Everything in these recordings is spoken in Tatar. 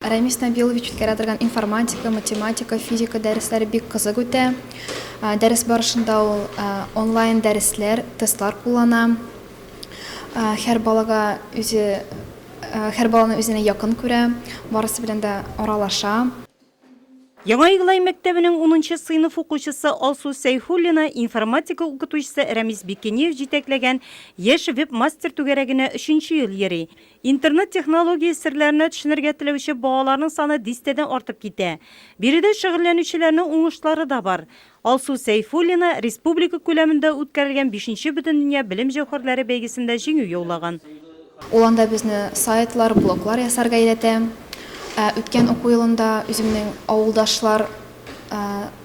Рәмис Нәбилович үткәрә торган информатика, математика, физика дәресләре бик кызык үтә. Дәрес барышында ул онлайн дәресләр, тестлар куллана. Һәр балага үзе һәр баланы үзенә якын күрә, барысы белән дә аралаша. Яңа Иглай мәктәбенең унынчы сыйныф укучысы Алсу Сәйхуллина информатика укытучысы Рәмис Бикениев җитәкләгән Яшь веб-мастер түгәрәгенә өченче ел йөри. Интернет технология серләренә төшенергә теләүче балаларның саны дистәдән артып китә. Биредә шөгыльләнүчеләрнең уңышлары да бар. Алсу Сәйфуллина республика күләмендә үткәрелгән бишенче Бөтендөнья белем җәүһәрләре бәйгесендә җиңү яулаган. Ул анда безне сайтлар, блоглар ясарга өйрәтә. Үткән уку елында үземнең авылдашлар,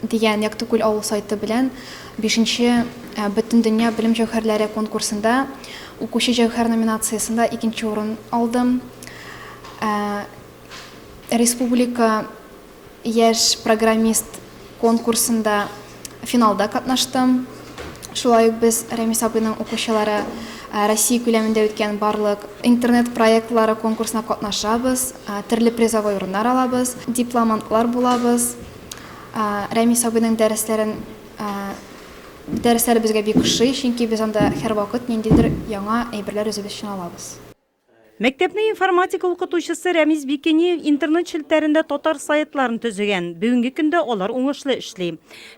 дигән Яктыкүл авыл сайты белән бишенче Бөтендөнья белем җәүһәрләре конкурсында укучы җәүһәр номинациясендә икенче урын алдым. Республика яшь программист конкурсында финалда катнаштым. Шулай ук без Рәмис абыйның укучылары Россия күләмендә үткән барлык интернет проектлары конкурсына катнашабыз, төрле призовой урыннар алабыз, дипломантлар булабыз. Рәмис абыйның дәресләрен дәресләре безгә бик ошый, чөнки без анда һәрвакыт ниндидер яңа әйберләр өзеп өчен алабыз. Мәктәпне информатика укытучысы Рәмис Бикениев интернет челтәрендә татар сайтларын төзегән. Бүгенге көндә алар уңышлы эшли.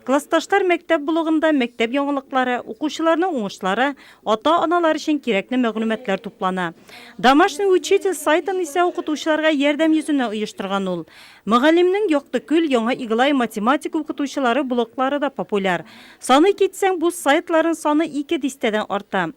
Классташлар мәктәп блогында мәктәп яңалыклары, укучыларның уңышлары, ата-аналар өчен кирәкле мәгълүматлар туплана. Домашний учитель сайтын исә укытучыларга ярдәм йөзеннән оештырган ул. Мөгаллимнең Яктыкүл, Яңа Иглай математика укытучылары блоглары да популяр. Саный китсәң, бу сайтларын саны ике дистәдән арта.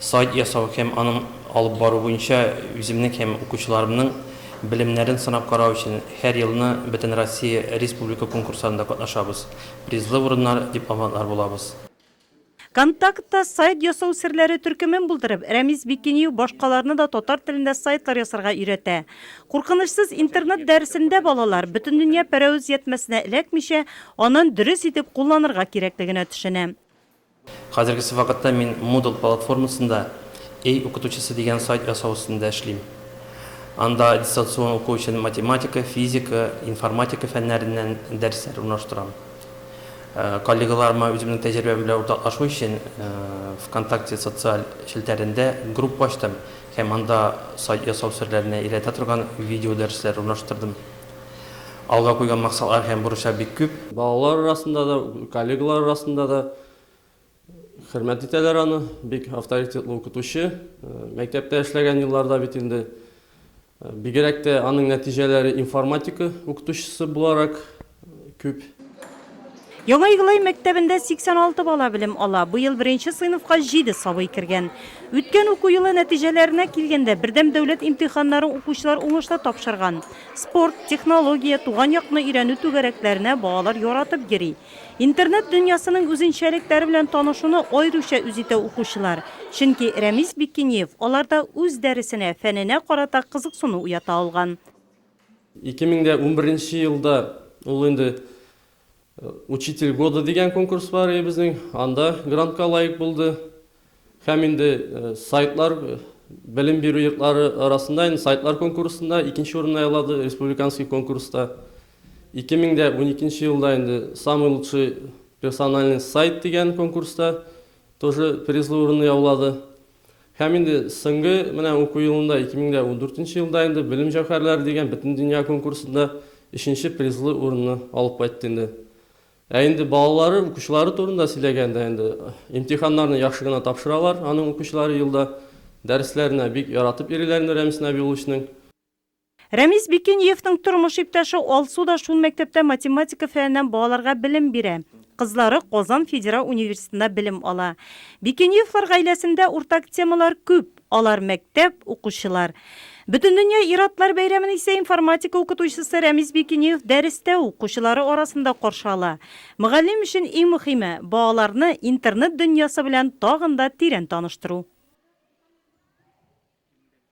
Сайт ясау һәм аның алып бару буенча үземнең һәм укучыларымның белемнәрен сынап карау өчен һәр елны Бөтенроссия республика конкурсларында катнашабыз, призлы урыннар, дипломантлар булабыз. Контактта сайт ясау серләре төркемен булдырып, Рәмис Бикиниев башкаларны да татар телендә сайтлар ясарга өйрәтә. Куркынычсыз интернет дәресендә балалар, бөтендөнья пәрәвез ятьмәсенә эләкмичә, анын дөрес итеп кулланырга кирәклегенә төшенә. Хәзергесе вакытта мин Moodle платформасында Эй, укытучысы дигән сайт ясау өстендә эшлим. Анда дистанцион уку өчен математика, физика, информатика фәннәреннән дәресләр урнаштырам. Коллегаларыма үземнең тәҗрибәм белән уртаклашу өчен ВКонтакте социаль челтәрендә группа ачтым һәм анда сайт ясау серләренә өйрәтә торган видеодәресләр урнаштырдым. Алга куйган максатлар һәм бурычлар бик күп. Балалар арасында да, коллегалар арасында да хөрмәт итәләр аны. Бик авторитетлы укытучы. Мәктәптә эшләгән елларда бит инде бигрәк тә аның нәтиҗәләре информатика укытучысы буларак күп. Яңа Иглай мәктәбендә 86 бала белем ала, быел беренче сыйныфка җиде сабый кергән. Үткән уку елы нәтиҗәләренә килгәндә, бердәм дәүләт имтиханнарын укучылар уңышлы тапшырган. Спорт, технология, туган якны өйрәнү түгәрәкләренә балалар яратып йөри. Интернет дөньясының үзенчәлекләре белән танышуны аеруча үз итә укучылар, чөнки Рәмис Бикиниев аларда үз дәресенә, фәненә карата кызыксыну уята алган. 2011 нче елда ул инде Учитель года дигән конкурс бар иде безнең, анда грантка лаек булды. Һәм инде э, сайтлар, э, белем бирү йортлары арасында инде сайтлар конкурсында икенче урынны яулады республиканский конкурста. 2012 елда инде самый лучший персональный сайт дигән конкурста тоже призлы урынны яулады. Һәм инде соңгы менә уку елында, 2014 нче елда инде Белем җәүһәрләре дигән бөтендөнья конкурсында өченче призлы урынны алып кайтты инде. Ә инде балалары, укучылары турында сөйләгәндә, инде имтиханнарны яхшы гына тапшыралар аның укучылары елда, дәресләренә бик яратып йөриләр инде Рәмис Нәбиулловичның. Рәмис Бикениевның тормыш иптәше Алсу да шул мәктәптә математика фәненнән балаларга белем бирә. Кызлары Казан федераль университетында белем ала. Бикениевлар гаиләсендә уртак темалар күп, алар, мәктәп, укучылар. Бөтендөнья ир-атлар бәйрәмен исә информатика укытучысы Рәмис Бикениев дәрестә укучылары арасында каршы ала. Мөгаллим өчен иң мөхиме, балаларны интернет дөньясы белән тагын да тирән таныштыру.